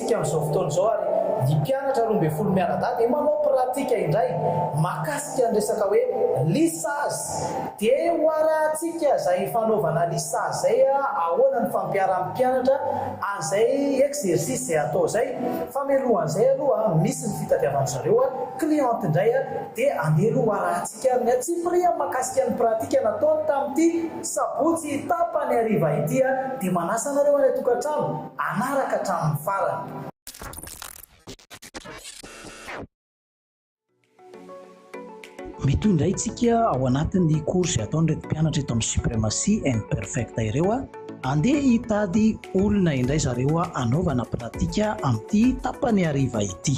Isika amin'izao fotoana izao ary ny mpianatra roa ambin'ny folo mianadahy dia manao pratika indray mahakasika ny resaka hoe lisazy. Dia hoarahantsika izay fanaovana lisazy izay ahoana ny fampiaran'ny mpianatra an'izay exercice izay atao izay. Fa mialoha an'izay aloha misy ny fitadiavan-dry zareo cliente indray dia andeha aloha hoarahantsika ny antsipiriany mahakasika ny pratika nataony tamin'ity sabotsy tapany hariva ity dia manasa anareo any an-tokantrano hanaraka hatramin'ny farany. Mety ho indray tsika ao anatin'ny cours izay ataon'ireto mpianatra eto amin'ny supremacy and perfect ireo a. Andeha hitady olona indray zareo hanaovana pratika amin'ity tapany hariva ity.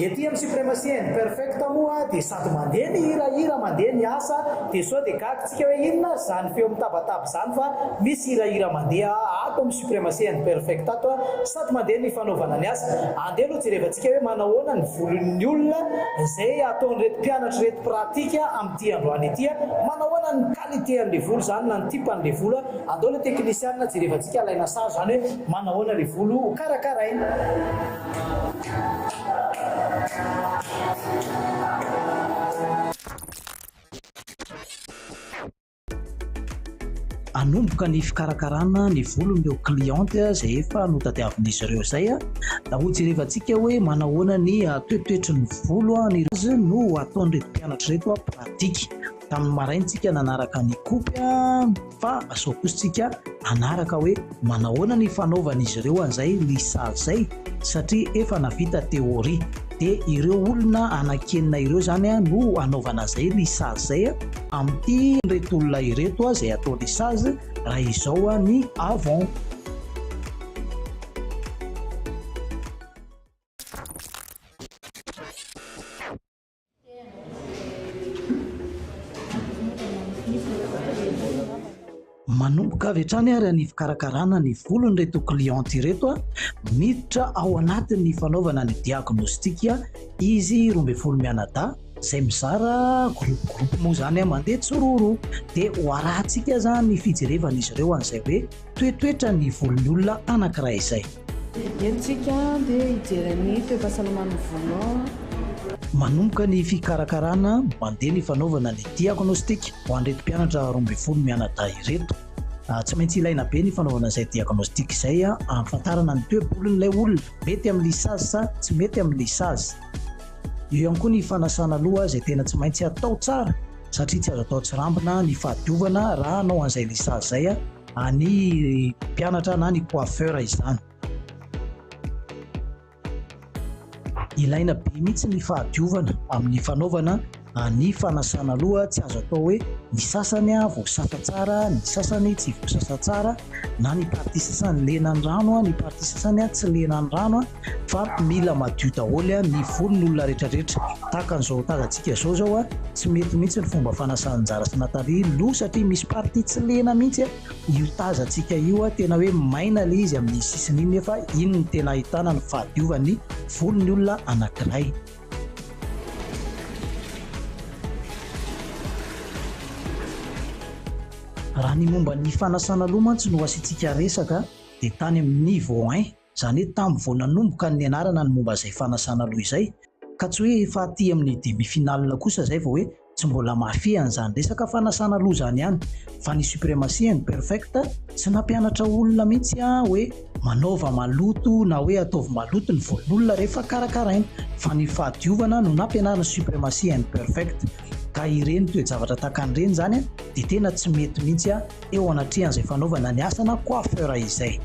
Ety amin'ny supremacy and perfect moa dia sady mandeha ny hirahira mandeha ny asa dia sao dia gaga tsika hoe inona ary izany feo mitabataba izany fa misy hirahira mandeha ato amin'ny Supremacy and Perfect ato a! Sady mandeha ny fanaovana ny asa. Andeha aloha jerevantsika hoe manahoana ny volon'ny olona izay ataon'ireto mpianatra ireto pratique amin'ity androany ity a! Manahoana ny qualité an'ilay volo izany na ny type an'ilay volo a! Andao ilay teknisianina jerevantsika alaina sary izany hoe manahoana ilay volo ho karakaraina. hanomboka ny fikarakarana ny volon'ireo cliente izay efa notadiavin'izy ireo izay a da ho jerevantsika hoe manahoana ny ah, toetoetry ny volo a ah, ny azy no ataon'ireto mpianatra ireto a ah, pratika tamin'ny maraintsika nanaraka ny kopy a fa asao kosa tsika anaraka hoe Manahoana ny fanaovan'izy ireo an'izay ny sazy izay? Satria efa navita teoria. Dia ireo olona anankenina ireo izany no anaovana izay ny sazy izay amin'ity ireto olona ireto izay atao ny sazy raha izao ny avant. Manomboka avy hatrany ary ny fikarakarana ny volon'ireto cliente ireto miditra ao anatin'ny fanaovana ny diagnostika izy roa ambin'ny folo mianadahy izay mizara groupe groupe moa izany mandeha tsiroro dia ho arahantsika aza ny fijerevan'izy ireo an'izay hoe Toetoetra ny volon'ny olona anankiray izay. Entintsika dia hijery ny toe-pahasalaman'ny volonao. Manomboka ny fikarakarana, mandeha ny fanaovana ny diagnostika ho an'ireto mpianatra roa ambin'ny folo mianadahy ireto. Tsy maintsy ilaina be ny fanaovana izay diagnostika izay ahafantarana ny toe-bolon'ilay olona, mety amin'ny lissage sa tsy mety amin'ny lissage. Eo ihany koa ny fanasana loha izay tena tsy maintsy atao tsara satria tsy azo atao tsirambina ny fahadiovana raha hanao an'izay lisage izay any mpianatra na ny coiffeur izany. Ilaina be mihitsy ny fahadiovana amin'ny fanaovana ny fanasana loha, tsy azo atao hoe ny sasany voasasa tsara, ny sasany tsy voasasa tsara, na ny partie sasany lena ny rano, ny partie sasany tsy lena ny rano. fa mila madio daholo a ny volony olona rehetra rehetra tahaka an'izao tazantsika zao zao a tsy mety mihitsy ny fomba fanasan-jara sy natali loha satria misy partie tsy lena mihitsy a io tazantsika io a tena hoe maina le izy amin'ny sisiny iny nefa iny ny tena ahitana ny fahadiovan'ny volony olona anankiray raha ny momba ny fanasana loha mantsy no asiantsika resaka dia tany amin'ny niveau 1 Izany hoe tamin'ny vao nanomboka ny nianarana ny momba izay fanasana loha izay, ka tsy hoe efa aty amin'ny demi finale kosa izay vao hoe tsy mbola mahafehy an'izany resaka fanasana loha izany ihany, fa ny supremacy and perfect tsy nampianatra olona mihitsy hoe manaova maloto na hoe ataovy maloto ny volon'olona rehefa karakaraina, fa ny fahadiovana no nampianarina supremacy and perfect, ka ireny toe-javatra tahaka an'ireny izany dia tena tsy mety mihitsy eo anatrehan'izay fanaovana ny asa na coiffeur izay.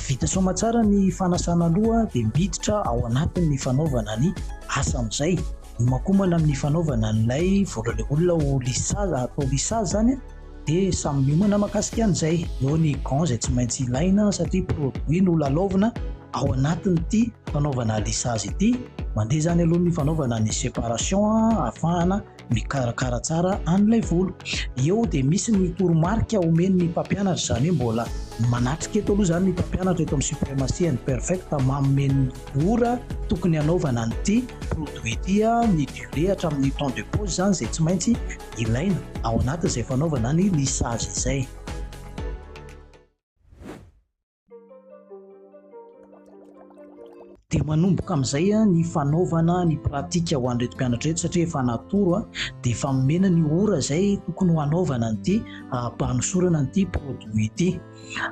Vita soamatsara ny fanasana loha dia miditra ao anatin' ny fanaovana ny asa amin' izay. Iomakomana amin' ny fanaovana an' ilay voalohan' olona ho lissage, atao lissage izany. dia samy miomana makasika an'izay, eo ny gants izay tsy maintsy ilaina satria produit no lalaovina ao anatin'ity fanaovana lissage ity, mandeha izany aloha ny fanaovana ny séparation ahafahana mikarakara tsara an'ilay volo, eo dia misy ny toromarika omen'ny mpampianatra, izany hoe mbola manatrika eto aloha izany ny mpampianatra eto amin'ny Supremacy and Perfect manome ny ora tokony hanaovana an'ity produit ity, ny durée hatramin'ny temps de pause izany izay tsy maintsy ilaina ao anatin'izay fanaovana ny lissage izay. dia manomboka amin'izay ah, ny fanaovana ny pratika ho an'ireto mpianatra ireto satria efa natoro ah, dia efa nomena ny ora izay tokony ho hanaovana an'ity ampanosorana ah, an'ity produit ity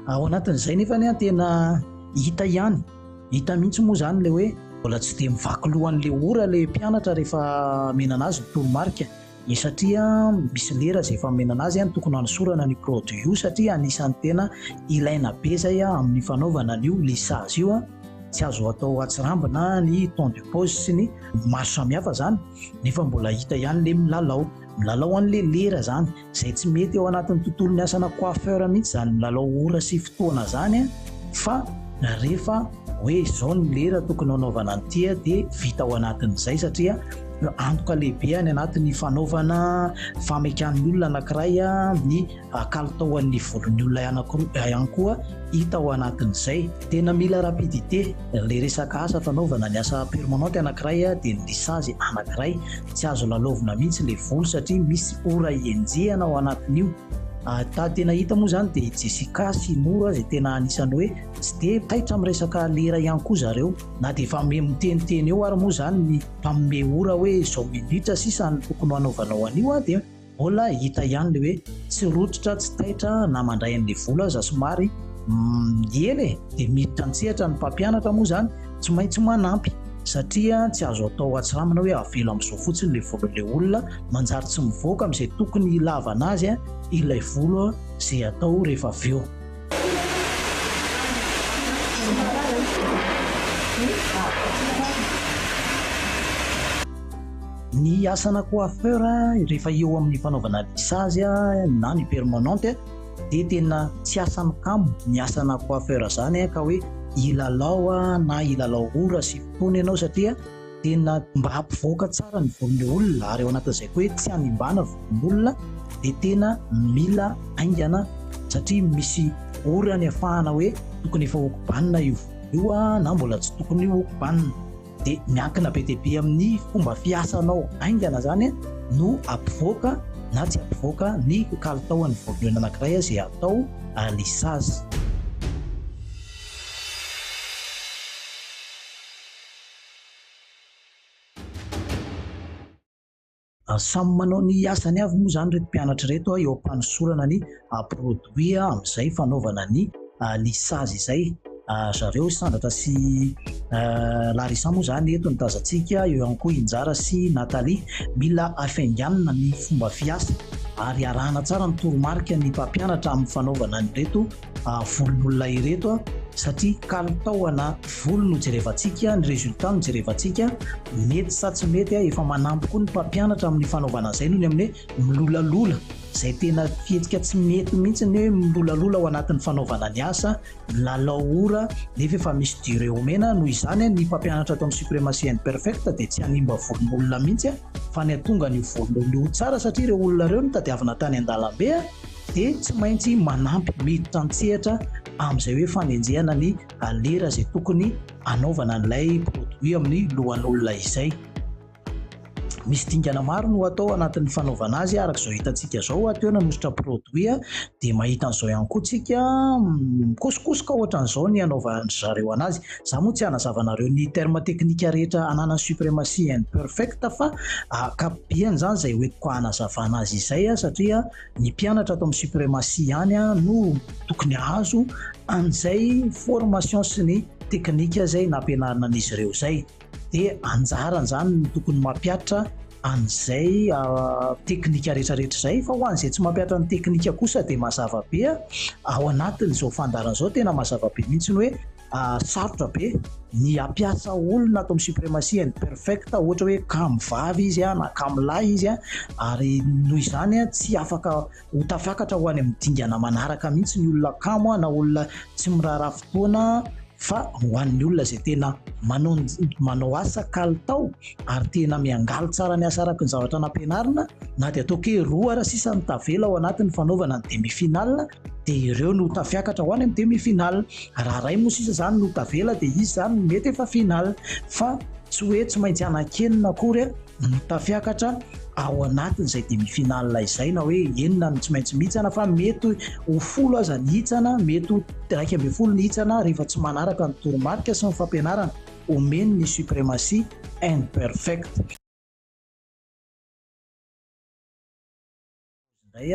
ao anatin'izay nefa ny tena hita ihany hita mihitsy moa izany le hoe mbola tsy dia mivaky lohan'le ora le mpianatra rehefa menana azy ny toromarika dia satria misy lera izay fanomenana azy, tokony hanosorana ny produit io satria anisan'ny tena ilaina be izay amin'ny fanaovana an'io lissage io, tsy azo atao atsirambina ny temps de pose sy ny maro samihafa izany nefa mbola hita ihany ilay milalao milalao an'ilay lera izany izay tsy mety eo anatin'ny tontolon'ny asana coiffeur mihitsy izany milalao ora sy fotoana izany fa rehefa hoe izao ny lera tokony hanaovana ny tia dia vita ao anatin'izay satria antoka lehibe any anatin'ny fanaovana famekan'ny olona anankiray ny kalitaoan'ny volon'ny olona ihany koa hita ao anatin'izay tena mila rapidité le resaka asa fanaovana ny asa permanente anankiray dia ny lisage anankiray tsy azo lalaovina mihitsy le volo satria misy ora ienjehana ao anatin'io ah, ta tena hita moa izany dia i Jessica sy Nora izay tena anisan'ny hoe Tsy dia taitra amin'ny resaka lera ihany koa zareo, na dia efa miha miteniteny eo ary moa izany ny mpanome ora hoe izao minitra sisa no tokony ho anaovanao an'io dia mbola hita ihany ilay hoe tsy rototra, tsy taitra na mandray an'ilay vola aza somary miely e! dia miditra an-tsehatra ny mpampianatra moa izany tsy maintsy manampy satria tsy azo atao hatsiramina hoe avela amin'izao fotsiny ilay volan'ilay olona, manjary tsy mivoaka amin'izay tokony hilavana azy ilay vola izay atao rehefa avy eo. Ny asana coiffeur rehefa eo amin'ny fanaovana lissage na ny permanente dia tena tsy asany kamo ny asana coiffeur izany ka hoe hilalao na hilalao ora sy fotoana ianao satria tena mba hampivoaka tsara ny von'ny olona ary ao anatin'izay koa hoe tsy hanimbana von'ny olona dia tena mila aingana satria misy orany afahana hoe tokony efa okobanina io io a na mbola tsy tokony io okobanina dia miankina be dia be amin'ny fomba fiasanao aingana zany no ampivoaka na tsy ampivoaka ny kalitaon'ny voambolana anankiray izay atao lisage Samy manao ny asany avy moa izany ireto mpianatra ireto eo am-panosorana ny produit amin'izay fanaovana ny ny sazy izay. Zareo Sandratra sy Larissa moa izany eto no tazantsika, eo ihany koa i Njara sy Nathalie. Mila hafainganina ny fomba fiasa ary arahana tsara ny toromarika ny mpampianatra amin'ny fanaovana an'ireto. ah, volon'olona ireto ah, satria kalitao ana volo no jerevantsika ny résultat no jerevantsika mety sa tsy mety ah, efa manampy koa ny mpampianatra amin'ny fanaovana izay noho ny amin'ny hoe milolalola izay tena fihetsika tsy mety mihitsy ny hoe milolalola ao anatin'ny fanaovana ny asa milalao ora nefa efa misy durée omena noho izany ny mpampianatra ato amin'ny supremacy and perfect dia tsy hanimba volon'olona mihitsy fa ny atonga ny volon'olona tsara satria ireo olona ireo no tadiavina tany an-dalambe dia tsy maintsy manampy miditra an-tsehatra amin'izay hoe fanenjehana ny lera izay tokony hanaovana an'ilay produit amin'ny lohan'olona izay. Misy dingana maro no atao anatin'ny fanaovana azy araka izao hitantsika izao, teo nanositra produit dia mahita an'izao ihany koa tsika mikosokosoka ohatran'izao ny anaovan'ny zareo anazy. Za moa tsy hanazava anareo ny terme teknika rehetra ananan'ny supremacy imperfect fa ankapobeany izany izay hoentiko hanazavana azy izay satria ny mpianatra ato amin'ny supremacy ihany no tokony hahazo an'izay formation sy ny teknika izay nampianarina an'izy ireo izay dia anjarany izany no tokony mampiatra an'izay ah, teknika rehetrarehetra izay fa ho an'izay tsy mampiatra ny teknika kosa dia mazava be ah, ao anatin'izao fandaharana izao tena mazava be mihitsy ny hoe ary sarotra be ny hampiasa olona ato amin'ny supremacy and perfect ohatra hoe kamo vavy izy a na kamo lahy izy a ary noho izany a tsy afaka ho tafakatra ho any amin'ny dingana manaraka mihitsy ny olona kamo a na olona tsy miraharaha fotoana fa ho an'ny olona izay tena manao manao asa kalitao ary tena miangaly tsara ny asa araka ny zavatra nampianarina na dia ataoko hoe roa ara sisa ny tavela ao anatin'ny fanaovana ny demi final dia ireo no tafiakatra ho any amin'ny demi final Raha ray moa sisa zany no tavela dia izy zany no mety efa final fa tsy hoe tsy maintsy hanankenina akory ny tafiakatra ao anatin'izay demi final izay na hoe enina no tsy maintsy mihitsana fa mety ho folo aza ny hitsana, mety ho iraika ambin'ny folo ny hitsana rehefa tsy manaraka ny toromarika sy ny fampianarana omen'ny suprematie imperfect. Indray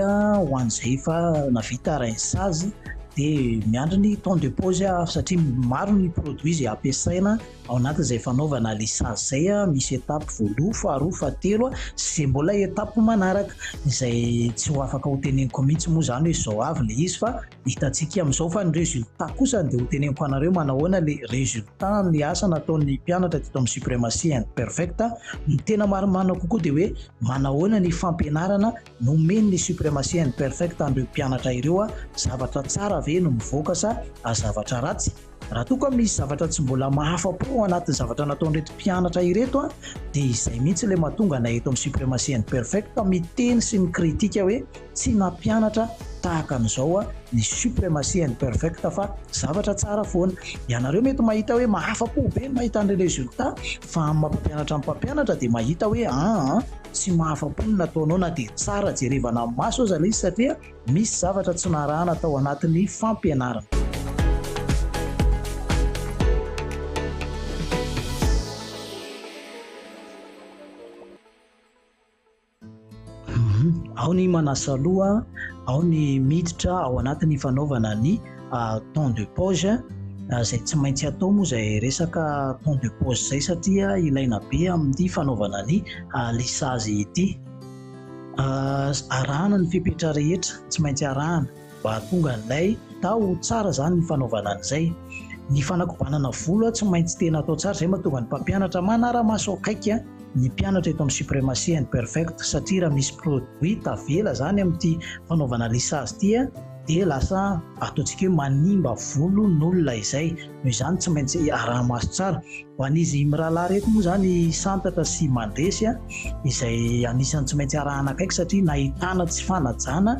ho an'izay efa navita arahin'ny sazy dia miandry ny temps de pause satria maro ny produits izay ampiasaina ao anatin'izay fanaovana ilay sazy izay, misy étape voaloha, faharoa, fahatelo sy izay mbola étape manaraka izay tsy ho afaka ho teneniko mihitsy moa izany hoe izao avy ilay izy fa Hitantsika amin'izao fa ny résultat kosa dia hoteneniko anareo manahoana le résultat ny asa nataon'ny mpianatra teto amin'ny Supremacy and Perfect a! Ny tena marimarina kokoa dia hoe manahoana ny fampianarana nomen'ny Supremacy and Perfect an'ireo mpianatra ireo a! Zavatra tsara ve no mivoaka sa zavatra ratsy? Raha toa ka misy zavatra tsy mbola mahafa-po ao anatin'ny zavatra nataon'ireto mpianatra ireto dia izay mihitsy ilay mahatonga anay eto amin'ny Supremacy and Perfect miteny sy mikritika hoe tsy nampianatra tahaka an'izao ny Supremacy and Perfect fa zavatra tsara foana. Ianareo mety mahita hoe mahafa-po be ny mahita ny résultat fa amin'ny maha-mpampianatra ny mpampianatra dia mahita hoe aa tsy mahafa-po ny nataonao na dia tsara jerevana amin'ny maso aza ilay izy satria Misy zavatra tsy narahana tao anatin'ny fampianarana. Ao ny manasa loha, ao ny miditra ao anatin'ny fanaovana ny ah, temps de pause Ah, izay tsy maintsy atao moa izay resaka temps de pause izay satria ilaina be amin'ny fanaovana ny ah, lissage ity. arahana ny fepetra rehetra tsy maintsy arahana mba hahatonga an'ilay taho ho tsara izany ny fanaovana an'izay. Ny fanakobanana volo tsy maintsy tena atao tsara, izay mahatonga ny mpampianatra manara-maso akaiky ny mpianatra eto amin'ny Supremacy and Perfect satria raha misy produit tavela izany amin'ity fanaovana lissage ity dia lasa ataontsika hoe manimba volon'olona izay. Noho izany tsy maintsy araha-maso tsara. Ho an'izy mirahalahy ireto moa izany santatra sy mandresy izay anisan'ny tsy maintsy arahana akaiky satria nahitana tsy fanajana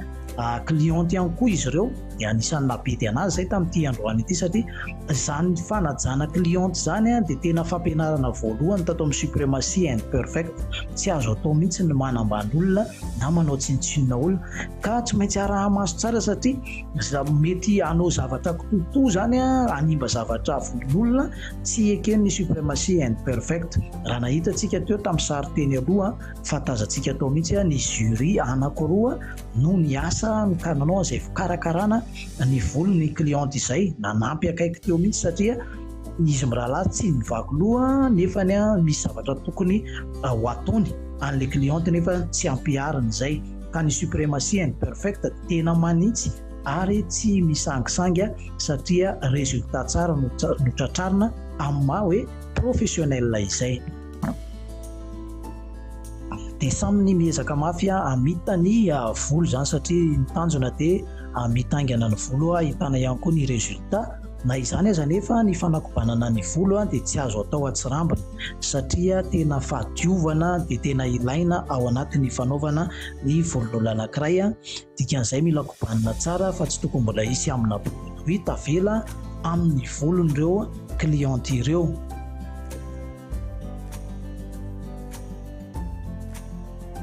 cliente ihany koa izy ireo dia anisan'ny nahabidy anazy izay tamin'ity androany ity satria izany fanajana cliente izany dia tena fampianarana voalohany tato amin'ny supremacy and perfect tsy azo atao mihitsy ny manambany olona na manao tsinontsinona olona ka tsy maintsy araha-maso tsara satria Za mety hanao zavatra kitoatoa zany hanimba zavatra volon'olona tsy eken'ny supremacy and perfect raha nahitantsika teo tamin'ny sary teny aloha fa tazantsika tao mihitsy ny jury anakiroa no niasa ka nanao an'izay fikarakarana ny volon'ny cliente izay nanampy akaiky teo mihitsy satria izy mirahalahy tsy mivaky loha nefa ny misy zavatra tokony ho ataony an'ilay cliente nefa tsy ampihariny izay ka ny supremacy and perfect tena manitsy ary tsy misangisangy satria résultat tsara no tratrarina amin'ny maha hoe professionnel izay. Dia samy ny miezaka mafy hamita ny volo izany satria ny tanjona dia hamita haingana ny volo ahitana ihany koa ny résultat. Na izany aza anefa ny fanakobanana ny volo dia tsy azo atao an-tsirambina satria tena fahadiovana dia tena ilaina ao anatin'ny fanaovana ny volon'olona anankiray dikan'izay mila kobanina tsara fa tsy tokony mbola hisy amina produit tavela amin'ny volon'ireo client ireo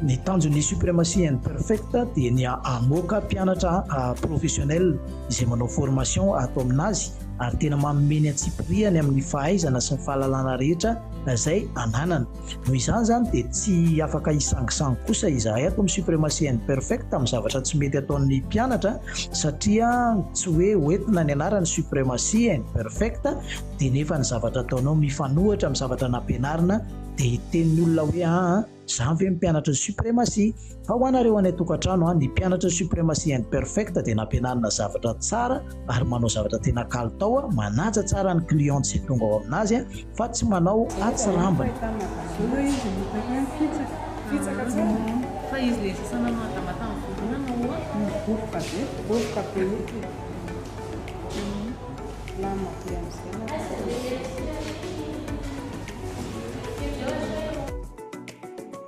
ny tanjon'ny supremacy and perfect dia ny amoaka mpianatra professionnel izay manao formation ato aminazy ary tena mamomeny antsipiriany amin'ny fahaizana sy ny fahalalana rehetra izay ananana Noho izany izany dia tsy afaka hisangisangy kosa izahay ato amin'ny Supremacy and Perfect amin'ny zavatra tsy mety ataon'ny mpianatra satria tsy hoe hoentina ny anaran'ny Supremacy and Perfect dia nefa ny zavatra ataonao mifanohitra amin'ny zavatra nampianarina dia hiteny ny olona hoe aa zany ve ny mpianatry ny Supremacy Fa ho anareo any an-tokantrano an, ny mpianatra Supremacy and Perfect dia nampianarina zavatra tsara ary manao zavatra tena kalitao an, manaja tsara ny client izay tonga ao aminazy an, fa tsy manao atsirambina.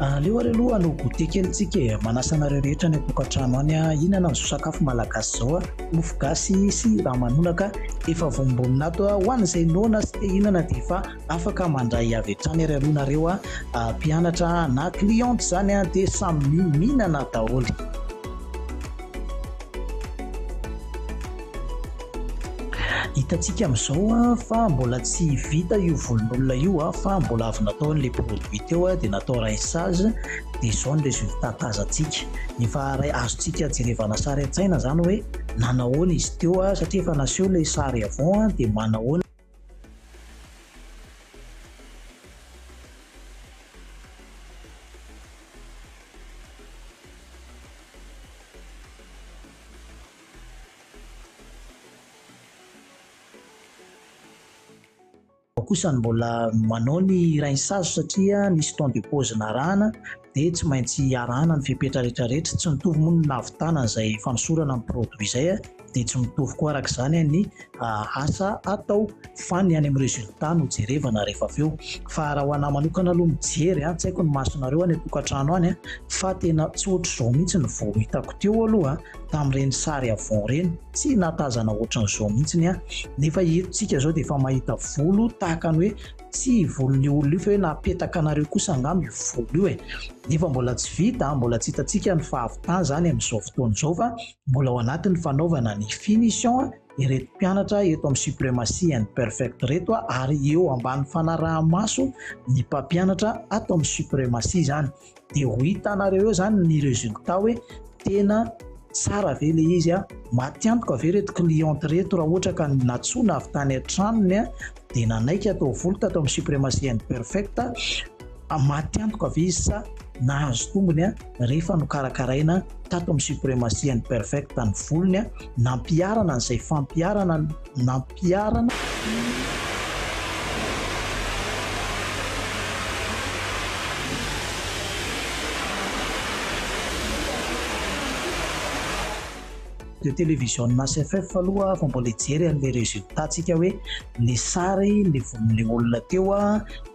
Aleo ary aloha hanao goûter kely tsika e, manasa anareo rehetra any an-tokantrano any a, hihinana an'izao sakafo malagasy izao a, mofo gasy sy ramanonaka efa vonombonina ato a, ho an'izay noana sy te hihinana dia efa afaka mandray avy hatrany ary aloha nareo a, mpianatra na cliente izany a dia samy mihinana daholo. Hitantsika amin'izao fa mbola tsy vita io volon'olona io fa mbola avy natao an'ilay produit teo dia natao raissage dia izao ny résultat tazantsika. Efa azontsika jerevana sary an-tsaina izany hoe nanahoana izy teo satria efa naseho ilay sary avant dia manahoana. kosa ny mbola manao ny rainsazo satria nisy temps de pause narahana dia tsy maintsy arahana ny fepetra rehetra rehetra tsy mitovy moa ny nahavitana izay fanosorana ny produit izay dia tsy mitovy koa araka izany ny ah, asa atao fa ny any amin'ny résultat no jerevana rehefa avy eo fa raha ho anà manokana aloha mijery a ah, tsy haiko ny masonareo any an-tokantrano any ah, fa tena tsy ohatr'izao mihitsy ny vao hitako teo aloha tamin'ireny sary avon ireny tsy natazana ohatran'izao mihitsy ny a nefa etsika izao dia efa mahita volo tahaka ny hoe Tsy io volon'io olona io fa hoe napetaka anareo kosa angamba io volo io e. Nefa mbola tsy vita, mbola tsy hitantsika ny fahavitany izany amin'izao fotoana izao fa mbola ao anatin'ny fanaovana ny finition ireto mpianatra eto amin'ny Supremacy and Perfect ireto ary eo ambany fanaraha-maso ny mpampianatra ato amin'ny Supremacy izany. de ho hitanareo eo zany ny resultat hoe tena tsara ve le izy a matiantoka ve reto cliente reto raha ohatra ka natsoina avy tany an-tranony a de nanaiky atao voly tato amin'ny supremacy and perfect a matiantoka ve izy sa nahazo tombony a rehefa nokarakaraina tato amin'ny supremacy and perfect ny volony a Nampiharana an'izay fampiharana nampiharana. de televisionina HFF aloha fa mbola hijery an'ilay résultat tsika hoe le sary le voan'ilay olona teo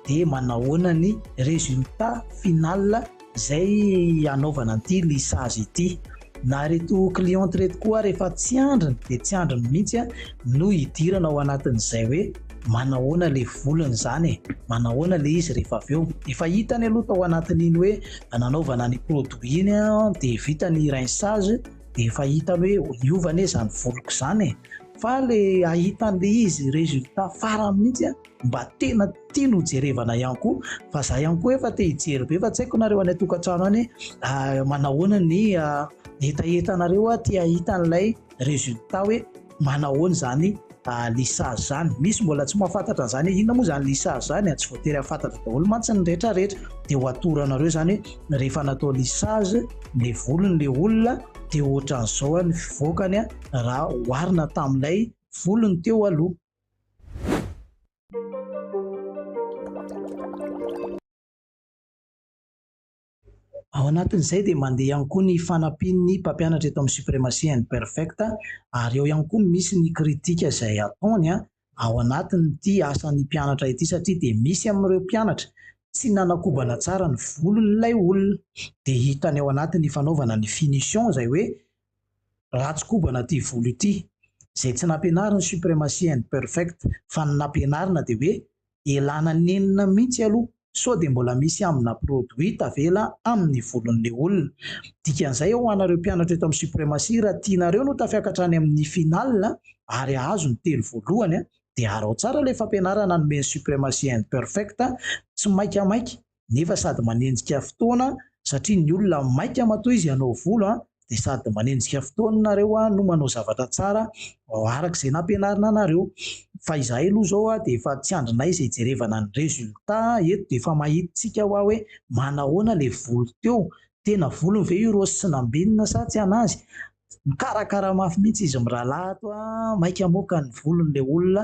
dia manahoana ny résultat final. Zay anaovana an'ity lissage ity. Na reto clientes reto koa rehefa tsy andriny dia tsy andriny mihitsy a, no hidirana ao anatin'izay hoe manahoana le volony zany e, manahoana le izy rehefa avy eo. Efa hitany aloha tao anatin'iny hoe nanaovana ny produit iny a, dia vita ny rinçage dia efa hitany hoe hiova anie zany voloko zany e. Fa le ahita an'le izy résultat farany mihitsy a, mba tena tiany ho jerevana ihany koa fa za ihany koa efa te hijery be fa tsy haiko nareo any an-tokantrano any ah, manahoana ny ah, hetahetanareo ah, te hahita an'ilay résultat hoe manahoana izany ah, lissage zany misy mbola tsy mahafantatra an'izany hoe inona moa izany lissage zany tsy voatery hafantatra daholo mantsy ny rehetra rehetra dia ho atoranareo izany hoe rehefa natao lissage ny volony le olona dia ohatran'izao ny fivoakany raha oharina tamin'ilay volony teo aloha Ao anatin'izay dia mandeha ihany koa ny fanampian'ny mpampianatra eto amin'ny Supremacy and Perfect ary eo ihany koa misy ny kritika izay ataony ao anatin'ity asan'ny mpianatra ity satria dia misy amin'ireo mpianatra tsy nanakobana tsara ny volon'ilay olona dia hitany ao anatin'ny fanaovana ny finition izay hoe Ratsy kobana ity volo ity. Izay tsy nampianariny supremacy and perfect fa ny nampianarina dia hoe elana nenina mihitsy aloha sao dia mbola misy amina produit tavela amin'ny volon'ilay olona. Dikan'izay ho anareo mpianatra eto amin'ny supremacy raha tianareo no tafiakatra any amin'ny final ary ahazo ny telo voalohany dia arao tsara ilay fampianarana nomen'i supremacy and perfect tsy maika maika nefa sady manenjika fotoana satria ny olona maika matoa izy hanao volo dia sady manenjika fotoana nareo no manao zavatra tsara araka izay nampianarina anareo fa izahay aloha zao dia efa tsy andrinay izay jerevana ny resulta eto dia efa mahitsika hoa hoe manahoana le volo teo tena volony ve io rose sy nambenina sa tsy anazy mikarakara mafy mihitsy izy mirahalahy ato maika hamoaka ny volony le olona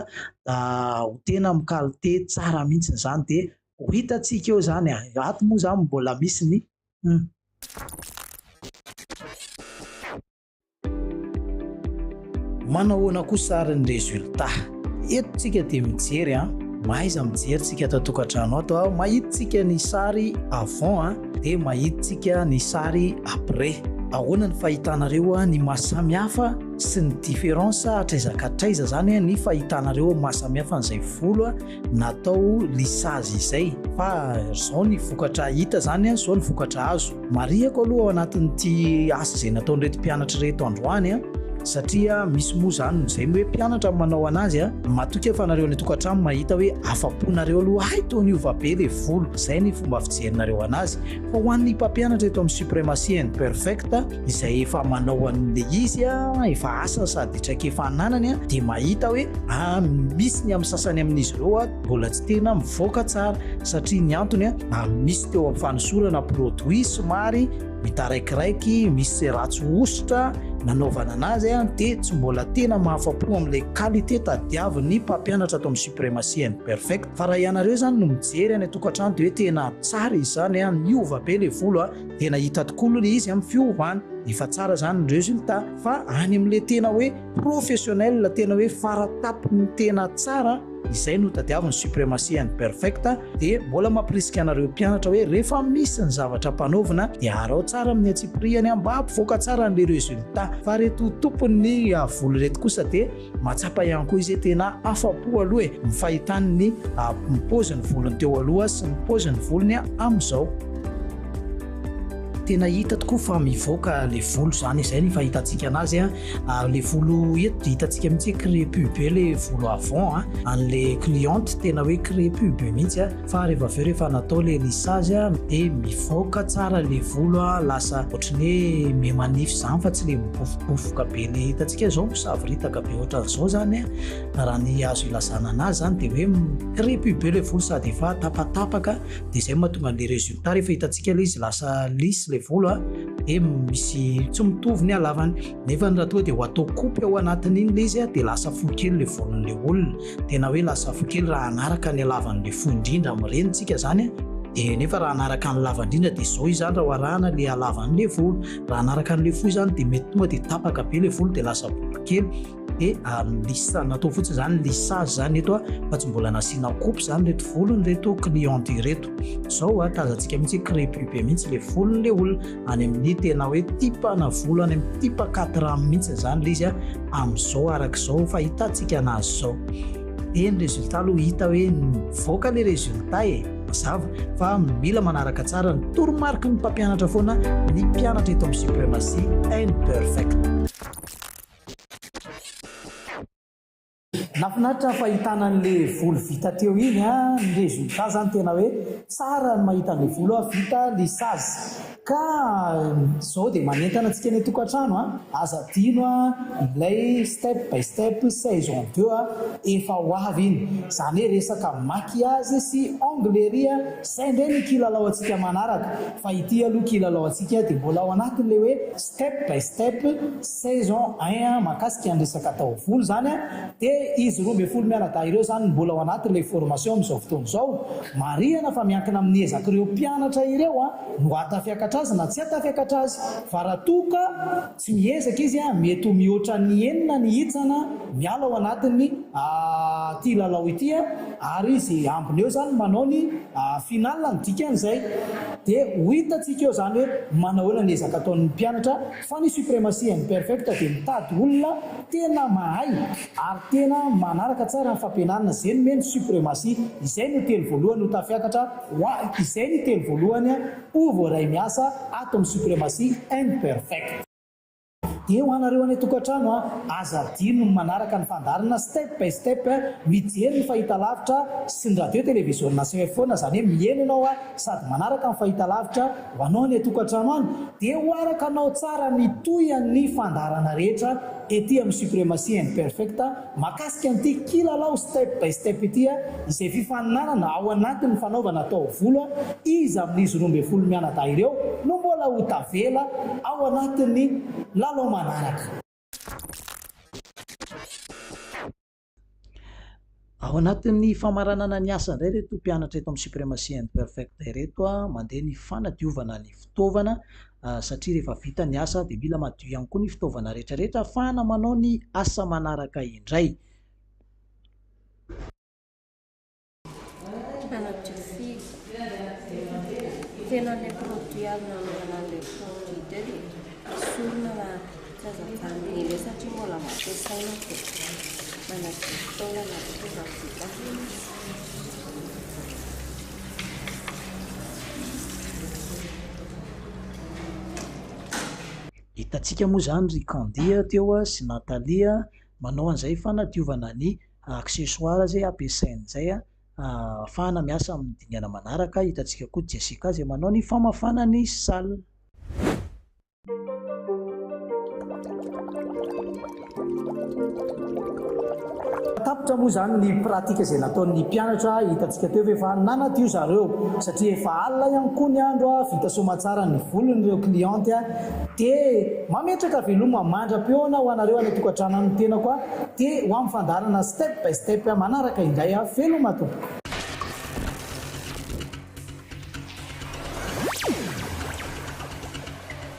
ho tena mikalite tsara mihitsy izany dia Ho hitantsika eo izany a! Ato moa izany mbola misy ny humm. Manahoana kosa ary ny résultat? Eto tsika dia mijery a! Mahaiza mijery tsika ato an-tokantrano ato a! Mahita tsika ny sary avant a! Dia mahita tsika ny sary après. Ahoana ny fahitanareo ny maha samy hafa sy ny différence hatraiza ka hatraiza izany ny fahitanareo maha samy hafa an'izay volo a! natao lisage izay fa zao ny vokatra hita zany an zao ny vokatra azo marihako aloha ao anatin'ity asa izay nataon'ireto mpianatra reto androany an satria misy moa zany nozay hoe mpianatra manao anazy a matoika fa nareo any tokantrano mahita hoe afa-ponareo aloha hay tony ova be le volo zay ny fomba fijerinareo anazy Fa ho an'ny mpampianatra eto amin'ny Supremacy and Perfect izay efa manao an'ilay izy efa asany sady traikefa ananany dia mahita hoe misy ny amin'ny sasany amin'izy ireo mbola tsy tena mivoaka tsara satria ny antony misy teo amin'ny fanosorana produit somary mitaraikiraiky misy se ratsy hosotra nanaovana anazy dia tsy mbola tena mahafapo amin'ilay qualité tadiavin'ny mpampianatra ato amin'ny Supremacy and Perfect Fa raha ianareo izany no mijery any an-tokantrano dia hoe tena tsara izy izany an, niova be ilay volo an, tena hita tokoa aloha ilay izy amin'ny fiovany, efa tsara izany ny résultat, fa any amin'ilay tena hoe professionnel, tena hoe fara-tampon'ny tena tsara, izay no tadiaviny supremacy and perfect, dia mbola mampirisika anareo mpianatra hoe rehefa misy ny zavatra ampanaovina dia araho tsara amin'ny antsipirihany an, mba hampivoaka tsara an'ilay résultat, fa ireto tompon'ny volo ireto kosa dia. Mahatsapa ihany koa izy hoe tena afa-po aloha e, ny fahitany ny paozin'ny volony teo aloha sy ny paozin'ny volony amin'izao. Tena hita tokoa fa mivoaka ilay volo izany, izay ny fahitantsika anazy. Ilay volo eto dia hitantsika mihitsy hoe crepue be ilay volo avant an'ilay cliente, tena hoe crepue be mihitsy. fa rehefa avy eo rehefa natao le lisage dia mivoaka tsara le volo a lasa ohatry ny hoe me manify zany fa tsy le mibofobofoka be le hitantsika zao misavoritaka be ohatran' zao zany a raha ny azo ilazana anazy zany de hoe crepy be le volo sady efa tapatapaka de zay mahatonga le resultat rehefa hitantsika le izy lasa lisy le volo a de misy tsy mitovy ny halavany nefa ny raha toa de ho atao kopy ao anatin'iny le izy a de lasa fohy kely le volon'le olona Tena hoe lasa fo kely raha hanaraka ny halavan'ilay fo indrindra amin'ny reny tsika izany an! Dia nefa raha hanaraka ny lava indrindra dia izao izany raha oharahana ilay halavan'ilay volo. Raha hanaraka an'ilay fo izany dia mety tonga dia tapaka be ilay volo dia lasa bobo kely. Dia lissage, natao fotsiny izany lissage izany eto fa tsy mbola nasiana coupe izany ireto volon'ireto cliente ireto. Izao tazantsika mihitsy hoe crepube mihitsy ilay volon'ilay olona. any amin'ny tena hoe tipana volo any amin'ny tipa quatre ans mihitsy izany ilay izy a amin'izao araka izao fa hitantsika anazy izao dia ny résultat aloha hita hoe mivoaka ilay résultat e mazava fa mila manaraka tsara ny toromarika ny mpampianatra foana ny mpianatra eto amin'ny supremacy imperfect Nafinaritra fahitana anle volo vita teo iny a, ny résultat zany tena hoe tsara ny mahita anle volo a vita lissazy ka zao dia manentana antsika any antokatrano a, aza adino a ilay step by step saison deux a, efa ho avy iny, zany hoe resaka maquillage sy onglerie a, zay ndray no kilalao antsika manaraka fa ity aloha kilalao antsika dia mbola ao anatinle hoe. step by step saison un an mahakasika ny resaka taovolo zany an de izy roa ambin'ny folo mianadahy ireo zany no mbola ao anatin'ilay formation amin'izao fotoana izao, marihana fa miankina amin'ny ezak'ireo mpianatra ireo an no hahatafiakatra azy na tsy hahatafiakatra azy fa raha toa ka tsy miezaka izy an mety ho mihoatra ny enina ny hitsana miala ao anatin'ny ity lalao ity an ary izay ambiny eo zany manao ny final ny dikan'izay. Dia ho hitantsika eo izany hoe manahoana ny ezaka ataon'ny mpianatra fa ny supremacy and perfect dia mitady olona tena mahay ary tena manaraka tsara ny fampianarana zay nomeny ny supremacy izay no telo voalohany ho tafiakatra ho ahy izay ny telo voalohany ho voaray miasa ato amin'ny supremacy and perfect. Dia ho anareo any an-tokantrano an, aza adino ny manaraka ny fandaharana step by step, mijery ny fahitalavitra sy ny radio televiziona cfona, izany hoe mihaino ianao an, sady manaraka ny fahitalavitra, ho anao any an-tokantrano any, dia ho araka anao tsara mitohy an ny fandaharana rehetra ety amin'ny Supremacy Imperfect, Mahakasika an'ity kilalao step by step ity, izay fifaninanana ao anatin'ny fanaovana taovolo, iza amin'izy roa ambin'ny folo mianadahy ireo no mbola ho tavela ao anatin'ny lalao manaraka? Ao anatin'ny famaranana ny asa indray ireto mpianatra eto amin'ny Supremacy and Perfecta ireto, mandeha ny fanadiovana ny fitaovana. satria rehefa vita ny asa dia mila madio ihany koa ny fitaovana rehetrarehetra ahafahana manao ny asa manaraka indray. Manadio firy? Tena ilay produit azo nanaovana an'ilay fonds leader e, esorina raha. Tsy azo ajanony anie satria mbola ampiasaina dia manadio fotoana na dia tonga vita aza. Hitantsika moa izany ry Candy teo sy Nathalie manao an'izay fanadiovana ny accessoires ampiasainy izay ahafahana miasa amin'ny dingana manaraka. Hitantsika koa Jessica izay manao ny famafana ny salle. Tapitra moa izany ny pratika izay nataon'ny mpianatra, hitantsika teo ve fa nanadio zareo satria efa alina ihany koa ny andro, vita soamantsara ny volon'ireo cliente dia mametraka veloma mandra-pihaona ho anareo any an-tokantrano any ny tenako dia ho amin'ny fandaharana step by step manaraka indray, veloma tompoko.